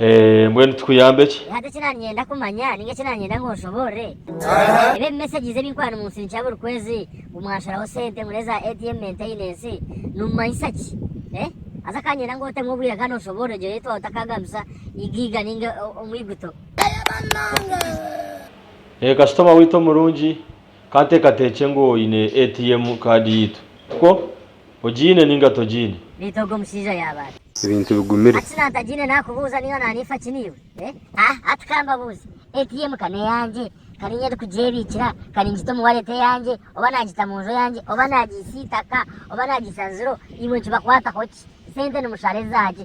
Eeh mbwenu tukuyambe ki? Hati eki nanyenda kumanya ninga eki nanyenda ngu onshoborre ebi ebi messages ebi nkuba nimunsindikira buri kwezi ngu mwanshoraho sente ngu neza ATM maintenance nimumanyisa ki eh? Haza kanyenda ngu otemu obwire kandi onshoborre egyo eyetwa otakagambisa Igiiga ninga omwiguto. Eeh kashitoma waitu omurungi, kanteekateekye ngu oine ATM card yaitu, tikwo? Ogiine ninga togiine? Beitu ogwo mushaija yaaba ati. Ebintu bigumire. Ati na ntagiine nakubuuza niiwe na niifa ki niiwe? Eh? Ah, ati ka mbabuuze, ATM ka n'eyangye? Ka niinye ndikugyebiikira? Ka ningita omu wallet eyangye? Oba nagita mu nju eyangye? Oba nagiisa eitaka? Oba nagiisa nziro? Imwe nikibakwataho ki? Sente nimushara eza ki?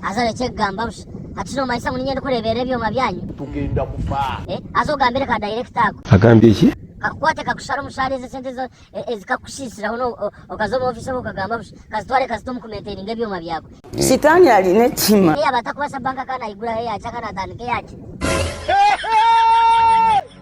Haza orekye kugamba busha. Hati shi nomanyisa ngu ninye ndikureeberera ebyoma byanyu? Tugenda kufa. Haza ogambire ka director ako. Agambye ki? Kakukwate kakushare omushaara ezo esente zo ezikakushishiraho no okaza omu office okwo okagamba busha. Kazitware kazite omu kumaintaininga ebyoma byawe. Sitaani ari n'ekihima. Neyaba atakubaasa bank account ayiguraho eyaki akanaatandika eyaki?